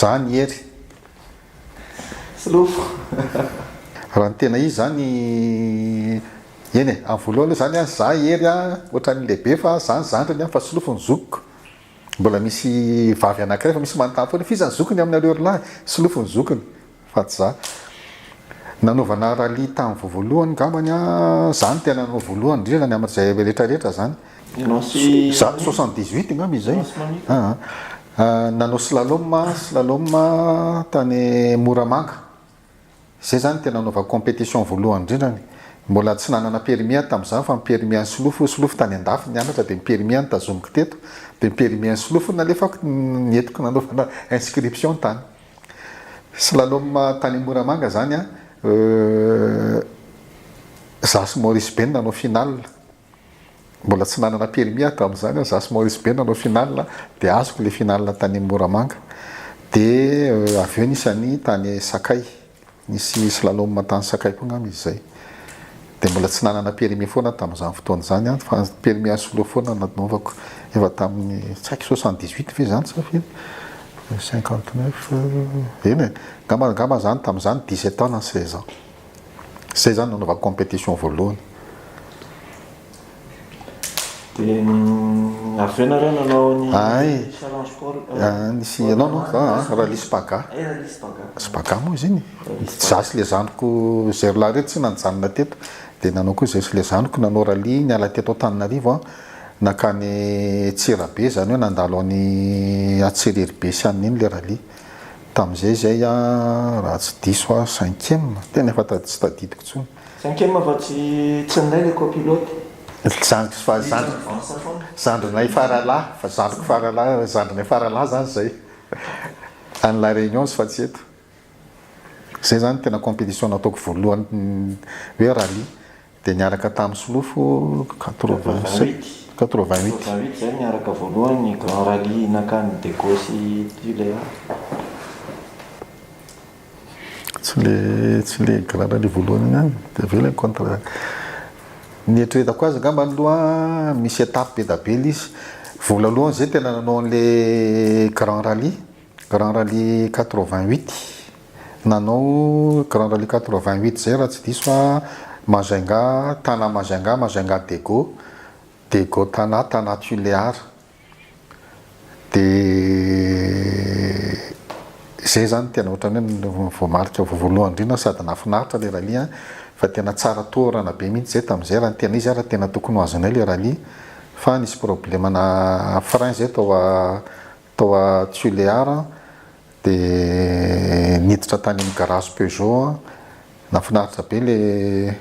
Zah ny hery. Solofo. Raha ny tena izy zany, eny e, amin'ny voalohany aloha zany an, zah hery an, ohatran'ny lehibe fa zah ny zandriny an, fa solofo ny zokiko. Mbola misy vavy anankiray fa misy manontany foana hoe f'iza ny zokiny amin'ny areorilahy? Solofo ny zokiny. Fa tsy za. Nanaovana rallye tamin'ny voavoalohany ngambany an, za no tena nanao voalohany indrindra ny amin'izay rehetra rehetra zany. Ianao sy Za soixante dix huit ngamba izy zay. Aa nanao slalom a, slalom a tany Moramanga. Zay zany tena nanaovako competition voalohany indrindra ny. Mbola tsy nanana permis aho tamin'izany fa ny permis an'i Solofo, Solofo tany an-dafy nianatra dia ny permis aho no tazomiko teto, dia ny permis an'i Solofo no nalefako, ny entiko nanaovana inscription tany. Slalom tany Moramanga zany an! Euh. Za sy Maurice be no nanao final. Mbola tsy nanana permis hatramin'izany aho, za sy Maurice be no nanao final dia azoko ilay final tany Moramanga. Dia avy eo nisy an'i tany Sakay. Nisy slalom tany Sakay koa angamba izy izay. Dia mbola tsy nanana permis foana aho tamin'izany fotoana izany an, fa permis à solo foana no nanaovako. Efa tamin'ny tsy haiko soixante dix huit ve izany sa firy? Cinquante neuf, eny e! Angamba angamba izany tamin'izany dix sept ans na seize ans. Izay izany no nanaovako competition voalohany. Dia avy eo nareo nanao ny Ay. challenge sport. Ah, nisy ianao no za ah, Rally Spaga. Ay, rally Spaga. Spaga moa izy iny. Rally Spaga. Za sy le zandriko Zéro lahy reto tsy nanjanona teto. Dia nanao koa izahay sy le zandriko nanao rally niala teto Antananarivo an, nankany Antsirabe izany hoe nandalo an'i Antsiriribe sy an'i Nino le rally. Tamin'izay izahay an, raha tsy diso aho cinquième, tena efa ta- tsy tadidiko intsony. Cinquième fa tsy tsy anay le copilote. Zandriko fa zandriko zandrinay faralahy fa zandriko faralahy zandrinay faralahy zany zay any la reunions fa tsy eto zay zany tena competition nataoko voalohany hoe rallye de niaraka tamin'ny solofo quatre vingt sept quatre vingt huit Quatre vingt huit zay niaraka voalohany ny grand rallye nankany Dego sy Tulear. Tsy le tsy le grade le voalohany ihany dia avy eo ilay contre ny eritreretako azy angamba aloha misy étape be da be le izy voalolohany zay tena nanao an'le grand rallye grand rallye quatre vingt huit nanao grand rallye quatre vingt huit zay raha tsy diso aho Majunga Tana Majunga Majunga Dego Dego Tana Tana Tulear Dia zay zany tena ohatran'ny hoe voamarika voalohany indrindra sady nahafinaritra ilay rallye fa tena tsara tohorana be mihitsy zay tamin'izay raha ny tena izy ary tena tokony ho azonay ilay rallye fa nisy problème-na frein zay tao tao Tuléar Dia niditra tany amin'ny garage Peugeot aho, nahafinaritra be ilay,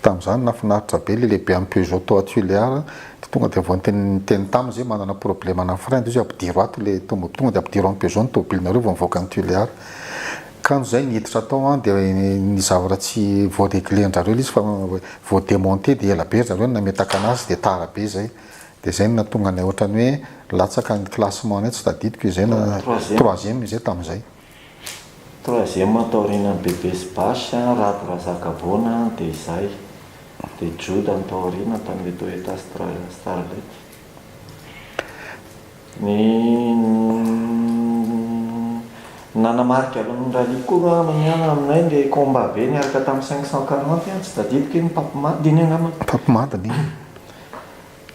tamin'izany nahafinaritra be ilay lehibe an'ny Peugeot tao Tuléar, dia tonga dia vao niteny niteny taminy izy hoe manana problème ana frein dia izy hoe ampidiro ato ilay tomob-, tonga dia ampidiro any Peugeot ny tomobilinareo vao mivoaka an'i Tuléar, kanjo izay niditra tao aho dia ny zavatra tsy voa reglé-ndrareo ilay izy fa voa démonté dia ela be ry zareo no nametaka anazy dia tara be izay, Dia izay no nahatonga anay ohatrany hoe latsaka ny classement anay, tsy tadidiko izay na troisième izay tamin'izay. Troisième taorianan'i Bebe sy Bash, Rado Razakavoana dia izay. Dia Joda ny tao aoriana tamin'ny hoe Toyota Starlet. Ny nanamarika ny rallye koa aminay ilay combat be niaraka tamin'ny cinq cent quarante, tsy tadidiko inona, Papy Madiny angamba? Papy Madiny.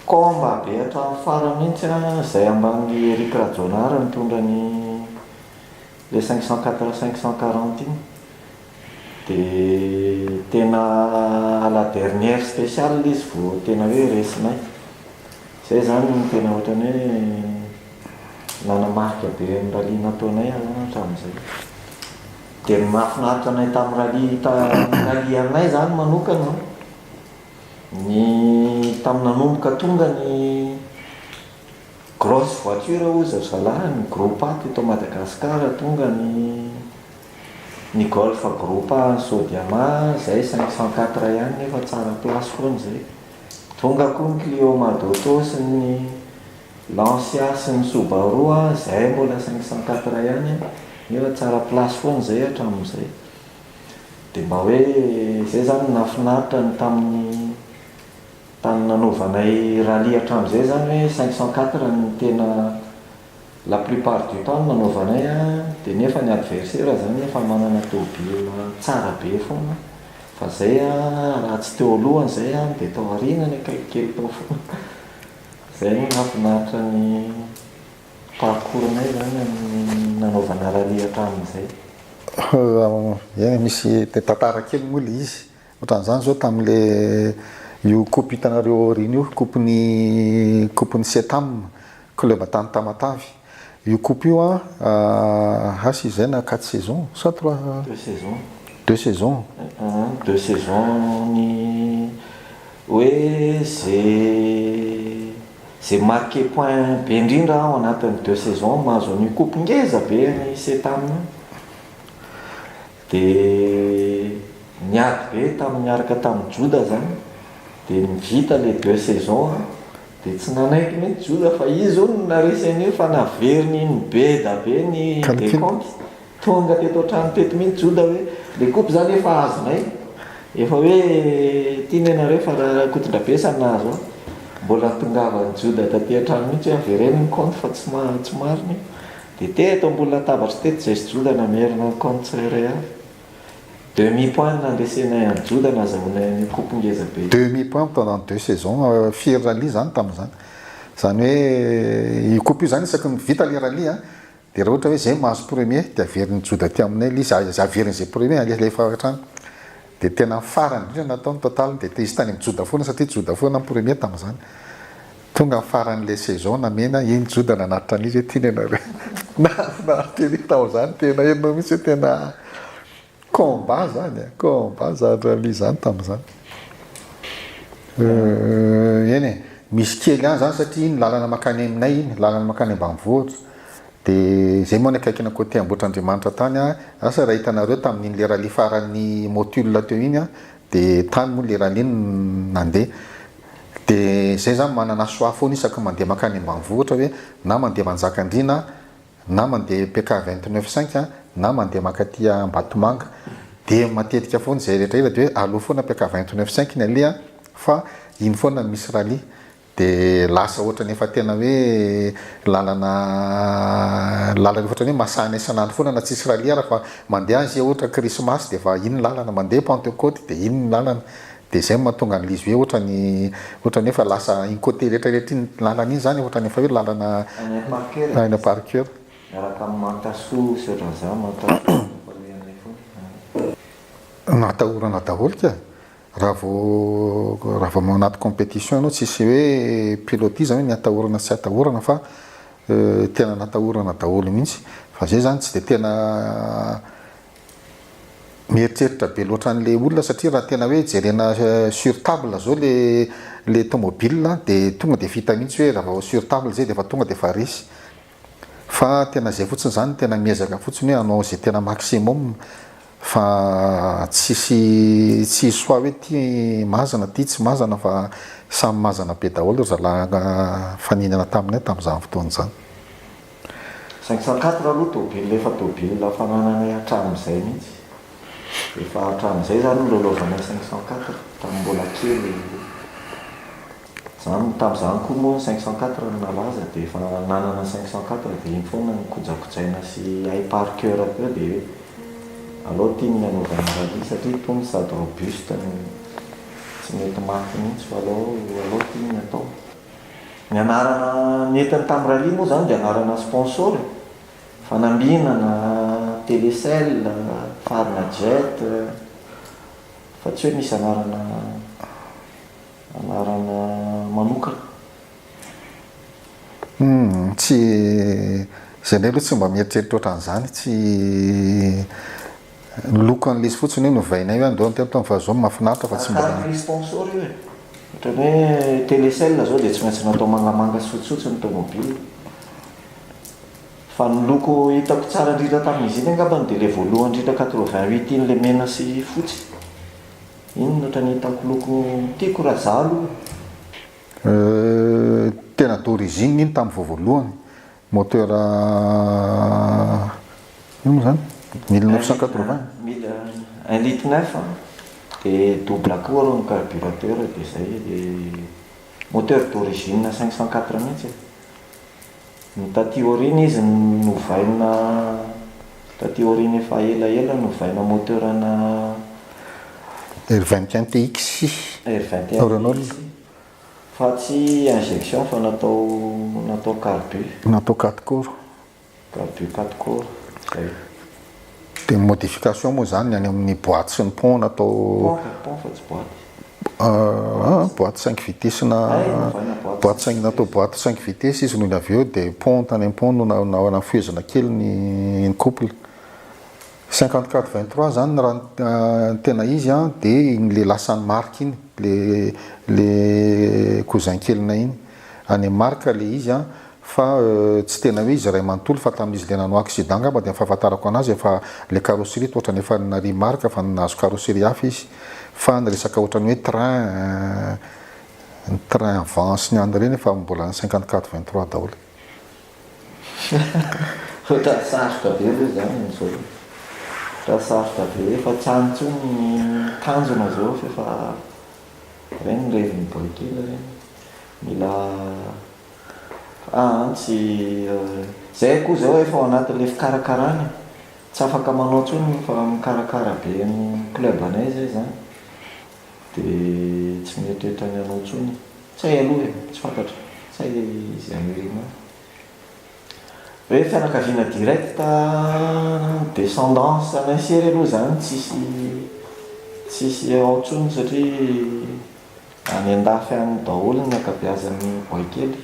Combat be hatramin'ny farany mihintsy a, zay ambany Eric Rajaonary nitondra ny le cinq cent quatre cinq cent quarante iny de tena à la dernière speciale le izy vo tena hoe resinay, zay zany no tena ohatrany hoe nanamarika be ny rallye nataonay a hatramin'izay, de ny mahafinaritra anay tamin'ny rallye ta- rallye anay zany manokana. Ny tamin'ny nanomboka tonga ny grosse voiture hoy zareo zalahy, ny Groupa teto Madagasikara, tonga ny ny Golf Groupa an'i Sodiama izay cinq cent quatre ihany nefa tsara place foana izay. Tonga koa ny Clio Madauto sy ny Lancia sy ny Subaru izay mbola cinq cent quatre ihany nefa tsara place foana izay hatramin'izay. Dia mba hoe izay izany nahafinaritra ny tamin'ny tany nanaovanay rallye hatramin'izay izany hoe cinq cent quatre no tena la plupart du temps no nanaovanay dia nefa ny adversaire izany efa manana tôbila tsara be foana fa izay raha tsy teo alohany izay dia tao aorianany akaiky kely tao foana. Izay no nahafinaritra ny. Parcours nay zany amin'ny nanaovana rallye hatramin'izay? Eny misy tantara kely moa le izy, otran'izany zao tamle io coupe hitanareo aoriana io, coupe ny coupe ny Cetam, club tany Tamatave, io coupe io an has izy zay na quatre saisons sa trois, deux saisons, deux saisons, deux saisons ny hoe ze Izay marquer point be indrindra ao anatin'ny deux saisons mahazo an'io coupe ngeza be an'i Setam io dia niady be tamin'ny niaraka tamin'i Joda izany dia nivita ilay deux saisons an! dia tsy nanaiky mihitsy Joda fa izy hono no narisy an'io fa naveriny nibeda be ny decompte. Tonga teto an-trano teto mihitsy Joda hoe, le kopy zany efa azonay, efa hoe ity ne nareo fa Rakotondrabesa no nahazo ahy. Mbola nitongavan'i Joda taty an-trano mihitsy hoe avereno ny compte fa tsy tsy marina io. De teto ambony latabatry teto zay sy Joda namerina ny compte tsirairay avy. Demi point no nandresenay an'i Joda nazahoanay an'io kopy ngeza be io. Demi point pendant deux saisons firy rallye zany tamin'izany. Zany hoe io kopy io zany isaky ny vita le rallye a. Dia raha ohatra hoe izay mahazo premier dia averin'ny Joda aty aminay ilay izy, aza averina izay premier aleha alefa avy hatrany. Dia tena ny farany indrindra natao ny total dia te-hisy tany amin'ny Joda foana satria Joda foana ny premier tamin'izany. Tonga ny faran'ilay saison namena iny Joda nanatitra an'izy hoe tiany ianareo. Nahafinaritra ery tamin'izany tena enao mihitsy hoe tena Combat zany a! Combat zany rallye zany tamin'izany. Euh, eny e, misy kely ihany zany satria iny lalana mankany aminay iny, lalana mankany ambanivohitra. Dia zay moa ny akaikina côté Ambohitrandriamanitra tany a, asa raha hitanareo tamin'iny le rallye faran'ny Motul teo iny a, dia tany moa le rallye no nandeha. Dia zay za manana choix foana isaky ny mandeha mankany ambanivohitra hoe na mandeha Manjakandriana, na mandeha PK vingt neuf cinq na mandeha mankaty Ambatomanga dia matetika foana izay rehetra ela dia hoe aleo foana PK vingt neuf cinq ny aleha fa iny foana no misy rallye dia lasa ohatran'ny efa tena hoe lalana lalana efa ohatran'ny hoe masahina isan'andro foana na tsisy rallye ary fa mandeha azy ohatra krismasy dia efa iny ny lalana mandeha pentecote dia iny ny lalana Dia izay no mahatonga an'i Liz hoe ohatrany, ohatrany hoe efa lasa incote retraretra iny lalana iny zany, ohatrany efa hoe lalana Aina Parker e. Aina Parker. Miaraka amin'i Manta Soa sy ohatran'izany, Manta Soa no mpanohy an'ilay fotoana. Natahorana daholo ka. Raha vao, raha vao ao anaty competition ianao tsisy hoe pilotis zany hoe ny atahorana sy tsy atahorana fa tena natahorana daholo mihitsy. Fa izay zany tsy dia tena Mieritreritra be loatra an'ilay olona satria raha tena hoe jerena sur table zao le le tomobile de tonga de vita mihitsy hoe raha vao sur table zay de efa tonga de efa resy fa tena zay fotsiny zany tena miezaka fotsiny hoe hanao ze tena maximum fa tsisy tsy hisy choix hoe ty mazana ty tsy mazana fa samy mazana be daholo ry zalahy nifanina taminay tamin'izany fotoana izany. Cinq cent quatre aloha tôbily efa tôbily fanananay hatramin'izay mihitsy. Efa hatramin'izay izany nilalaovanay cinq cent quatre tamin'ny mbola kely. Izany, tamin'izany koa moa ny cinq cent quatre no nalaza dia efa nanana cinq cent quatre dia iny foana no kojakojaina sy hay par coeur avy eo dia hoe alao tim ny anaovana rallye satria itony sady robuste no tsy mety maty mihitsy fa alao alao tim ny atao. Ny anarana nentiny tamin'ny rallye moa izany dia anarana sponsor e. Fanambinana, Telecel, Farmajet, fa tsy hoe misy anarana anarana manokana. Humm, tsy, izahay aloha tsy mba mieritreritra ohatran'izany, tsy Ny loko an'i Lisy fotsiny io novainay hoe andao ny telo taona fa zao mahafinaritra fa tsy mbola ny. Ohatran'ny hoe telecel zao dia tsy maintsy natao mangamanga sy fotsifotsy ny tomobile. Fa ny loko hitako tsara indrindra tamin'izy iny angambany dia ilay voalohany indrindra quatre-vingt-huit iny ilay mena sy fotsy. Iny no ohatran'ny hitako loko tiako raha izaho aloha. Tena d'origine iny tamin'ny voavoalohany Moteur ino moa zany? Mille neuf cent quatre vingt? Un litre neuf an, dia double akoho arô ny carburateur dia zay e, dia moteur d'origine cinq cent quatre mihitsy e, ny taty aoriana izy novaina taty aoriana efa ela ela novaina moteur ana. R vingt et un TX, Renault. Fa tsy injection fa natao natao carbu. Natao quatre cours. Carbu quatre cours zay. Dia ny modification moa izany ny any amin'ny boite sy ny pont natao. Pont fa pont fa tsy boite. Aah boite cinq vitesses na boite cinq natao boite cinq vitesses izy noho ny avy eo dia pont tany am-pont no na na nafehezina kely ny couple. Cinquante quatre vingt trois zany raha ny tena izy an dia iny le lasan'i Marc iny le le cousin kelinay iny. Any amin'i Marc le izy an fa tsy tena hoe izy ray manontolo fa tamin'izy le nanao accident angamba dia ny fahafantarako anazy efa le carrosserie toa ohatrany efa narian'i Marc efa nahazo carrosserie hafa izy fa ny resaka ohatrany hoe train ny train vent sy ny any ireny efa mbola cinquante quatre vingt trois daholo. Ohatran'ny sarotra be ve izany amin'izao e? Ohatran'ny sarotra be, efa tsy any intsony ny tanjona izao f'efa ireny ny revy miboay kely ireny. Mila aa tsy izay akoho izay efa ao anatin'ilay fikarakarana e, tsy afaka manao intsony fa mikarakara be ny club anay izay izany dia tsy mieritreritra ny hanao intsony. Tsay aloha e, tsy fantatra. Tsay le izy Amerima. Hoe fianakaviana direct descendance anay sery aloha izany tsisy tsisy ao intsony satria any an-dafy any daholo ny ankabeazan'ny boaikely.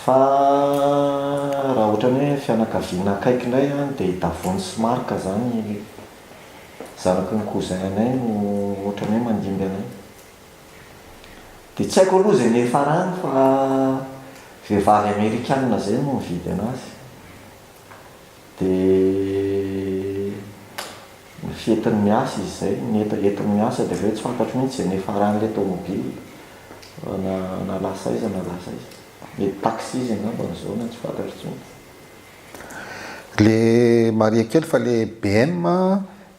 Fa raha ohatran'ny hoe fianakaviana akaiky indray an, dia i Davony sy Marc izany, zanaky ny cousin anay no ohatran'ny hoe mandimby anay. Dia tsy haiko aloha izay niafarany fa vehivavy amerikanina izay no nividy anazy. Dia ny fety niasa izy izay, nety eto niasa dia avy eo tsy fantatro mihitsy izay niafaran'ilay tômôbily fa na nalasa aiza nalasa aiza. Mety taxi izy angamba amin'izao na tsy fantatro intsony. Le maria kely fa le BM.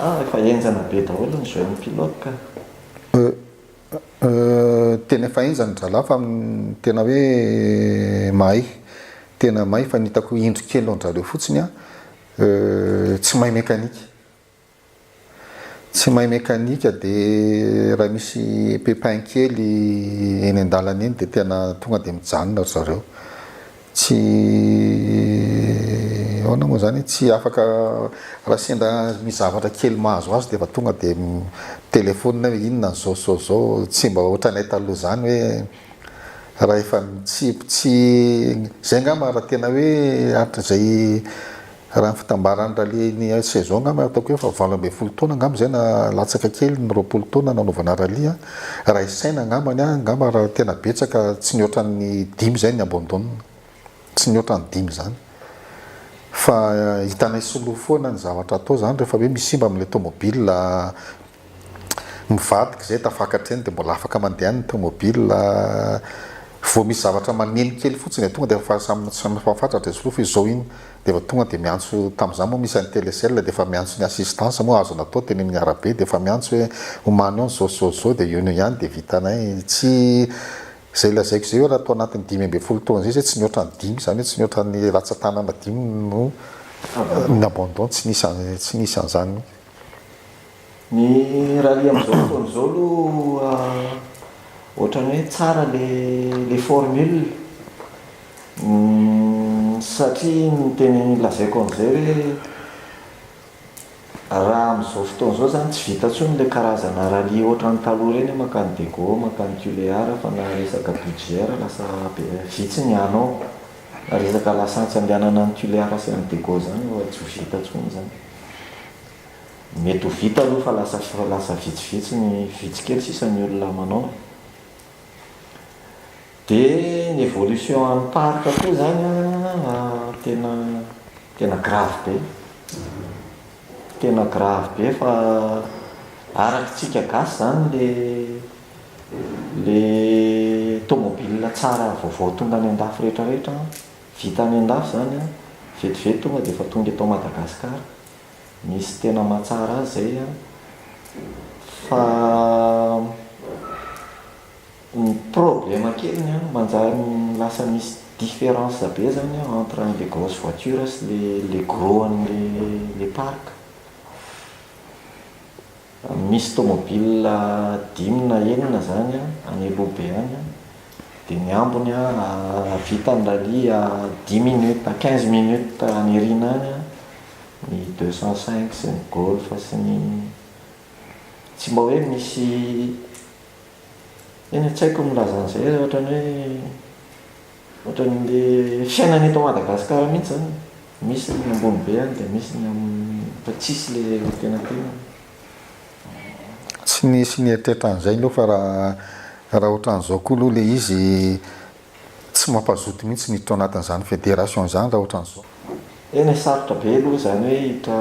Ah efa henjana be daholo ny jeune pilote ka. Euh euh tena efa henjana ry zalahy fa tena hoe mahay tena mahay fa ny hitako indro kely an-drareo fotsiny an euh tsy mahay mekanika tsy mahay mekanika de raha misy pepin kely eny an-dalana eny de tena tonga de mijanona ry zareo Tsy ahoana moa izany, tsy afaka raha sendra misy zavatra kely mahazo azy dia efa tonga dia mi-telephone hoe inona izao izao izao, tsy mba ohatranay taloha izany hoe raha efa tsy, tsy, izay angamba raha tena hoe hatrizay, Raha ny fitambaran'ny rallye ny saison angamba ataoko hoe efa valo ambin'ny folo taona angamba izay na latsaka kely ny roapolo taona nanaovana rallye a. Raha isaina angambany a, angamba raha tena betsaka tsy nihoatra ny dimy izay ny abandon. Tsy nihoatra ny dimy izany. Fa hitanay soloa foana ny zavatra atao izany rehefa hoe misimba amin'ilay tomobile. mivadika izay tafakatra eny dia mbola afaka mandeha ny tomobil-a, vao misy zavatra maneno kely fotsiny dia tonga dia efa samy samy mifafatratra etsy aloha fa izao iny dia efa tonga dia miantso tamin'izany moa misy an'i Telecel dia efa miantso ny assistance moa azo natao teny amin'ny arabe dia efa miantso hoe omaly eo ny izao sy izao sy izao dia eo noho ihany dia vitanay tsy izay lazaiko izay hoe raha tao anatin'ny dimy ambin'ny folo taona izay izay tsy nihoatra ny dimy izany hoe tsy nihoatra ny ratsan-tanana dimy no ni-abandon tsy nisy an tsy nisy an'izany mihitsy Ny rallye amin'izao fotoana izao aloha ohatran'ny hoe tsara ilay formule satria ny tena lazaiko an'izay hoe raha amin'izao fotoana izao izany tsy vita intsony ilay karazana rallye ohatran'ny taloha ireny hoe mankany Diego, mankany Tuléar fa na resaka budget ary lasa be, vitsy ny hanao. Na resaka lasantsy andehanana any Tuléar sy any Diego izany efa tsy ho vita intsony izany. Mety ho vita aloha fa lasa lasa vitsivitsy ny vitsy kely sisa ny olona manao e. Dia ny évolution an'ny parc koa izany an, tena tena grave be. Tena grave be fa araky tsika gasy izany le le tomobile tsara vaovao tonga any an-dafy rehetra rehetra an, vita any an-dafy izany an, vetivety tonga dia efa tonga eto Madagasikara. Misy tena mahatsara azy zay an! Fa ny problème keliny an, manjary lasa misy difference be zany an entre an'le grosse voiture sy le le gros an'le le parc. Misy tômôbila dimy na enina izany any Elobe any an, dia ny ambiny an, raha vita ny rallye à dix minutes à quinze minutes any aoriana any an, ny deux cent cinq sy ny Golf sy ny, tsy mba hoe misy, eny an, tsy haiko ny milaza an'izay, ohatran'ny hoe. Ohatran'le fiainana eto Madagascar mihitsy zany e! Misy ny ambony be any dia misy ny amin'ny fa tsisy le antenatenany. Tsy nisy nieritreritra an'izay aloha fa raha raha ohatran'izao koa aloha le izy tsy mampazoto mihitsy miditra ao anatin'izany federation izany raha ohatran'izao. Tena e! Sarotra be aloha izany hoe hiditra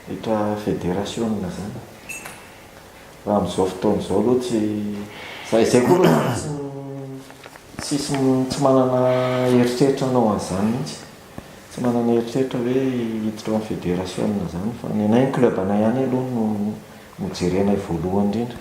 hiditra federation zany. Raha amin'izao fotoana izao aloha tsy, izay izay koa aloha tsy misy, tsy misy, tsy manana eritreritra hanao an'izany mihitsy. Tsy manana eritreritra hoe hiditra ao amin'ny federasiona izany fa ny anay ny club anay ihany aloha no no jerenay voalohany indrindra.